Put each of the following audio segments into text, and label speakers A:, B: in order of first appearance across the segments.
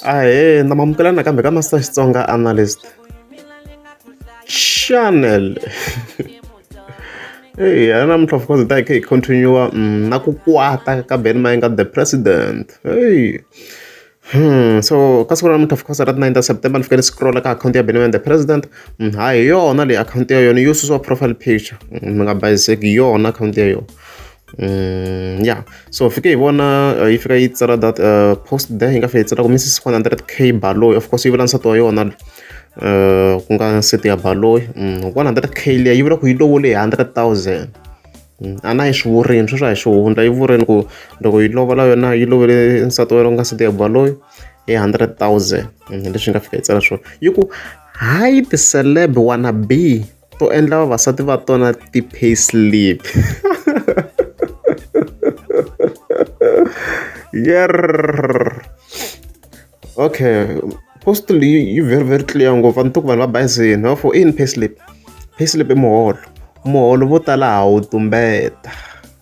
A: ahee na mamukela na kambe ka master xitsonga analyst channel eyi a namuntlha of course hi ta hi kha hi continua mm, na ku kwata ka ben mayenga the president eyi Hmm, so ka siku ra namuntlha of course ra 9 september ni fike ni scrolla ka akhawunti ya benman the president mm, ha hi yona leyi akhawunti ya yona yo susiwa profile picture mm, mi nga bayiseki yona akhawunti ya yona Mm, ya so fike hi vona uh, yi fika yi tsala that uh, post there yi nga fika yi tsala ku missis 100 k baloyi of course yi vula nsati wa yona uh, ku nga nsati ya baloyi mm, 100 k liya yi vula ku yi lovole hi 100 000 mm, a na yi swi vurini sweswo a hi swi hundla yi vurini ku loko yi lovola yona yi lovele nsati wa yona ku nga nsati ya baloyi hi 100 000 mm, leswi yi nga fika yi tsala swona yi ku hi the celeb wanna be to endla vavasati va tona ti-pay slip yer okay post leyi yi very very clear ngopfu a ni to ku vanhu va bayizini va fo i yini pay slip pay slip i muholo muholo vo tala ha wu tumbeta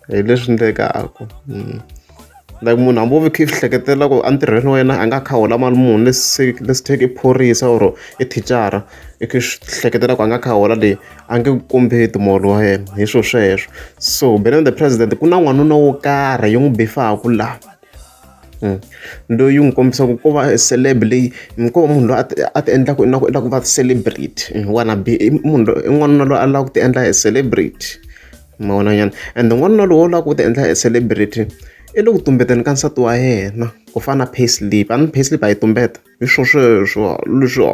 A: hi leswi endlekaka like munhu hambi wo ve kha i swi hleketela ku entirhweni wa yena a nga kha hola mali muni lesi lesi theke i phorisa or i thicara i kha swi hleketela ku a nga kha hola leyi a nge ku kombeti muholo wa yena hi swilo sweswo so being the president ku na n'wanuna wo karhi yi n'wi bifaku laha hmm. loyi n'wi kombisaka ko va celeb leyi ko va munhu loyi a ti a ti endlaka i na ku i lava ku va celebrity hmm, wanna be i munhu loyi i n'wanuna loyi a lava ku ti endla hi celebrity. ma vona nyana ende n'wanuna lowu u lava ku ti endla e celebrity i le ku tumbeteni ka nsati wa yena ku fana na payslip a ni payslip a yi tumbeta hi swo sweswo leswi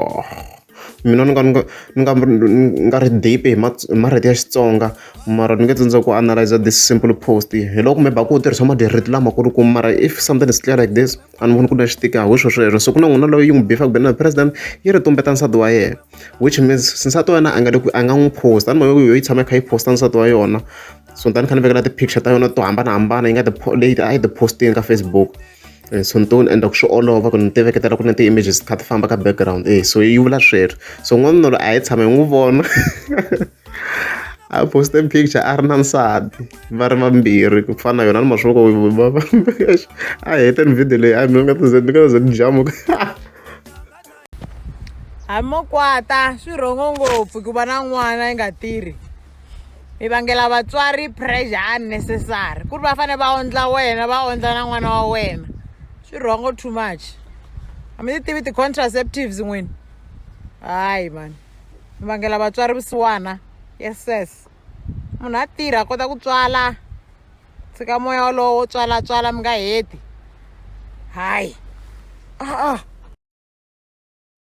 A: mina ni nga ni nga ni nga ni nga ri deep hi hi marito ya Xitsonga mara ni nge tsandza ku analyser this simple post hi loko maybe a ku u tirhisa marito lamakulu ku mara if something is clear like this. a ni voni ku na lexi tikaka hi swo sweswo se ku na n'wina loyi yi n'wi befaka bene na president yi ri tumbeta nsati wa yena which means nsati wa yena a nga le ku a nga n'wi post a ni mavoni yo yi tshama yi kha yi posta nsati wa yona so ni ta ni kha ni vekela ti-picture ta yona to hambanahambana yi nga ti leyi a yi ti postini ka facebook eh, so ni to ni endla ku swi olova ku ni ti veketela ku na ti-images ti kha ti famba ka background e so yi vula sweswo so n'wanuna loyi a yi tshama hi n'wi vona a poste picture a ri na nsati va ri vambirhi ku fana yona ni mashovo a heteni video leyi a mi nga tize ni nga ze ni jamuka
B: hi mokwata swi rhongo ngopfu ku va na n'wana yi nga tirhi mi vangela vatswari pressure unnecessary ku ri va fanele va ondla wena va ondla na n'wana wa wena swi rhongo too much a mi ti tivi ti-contraceptives n'wini hayi mani mi vangela vatswari vusiwana yeses munhu a tirha a kota ku tswala tshika moya wolowo wo tswala tswala mi nga heti hayi a-a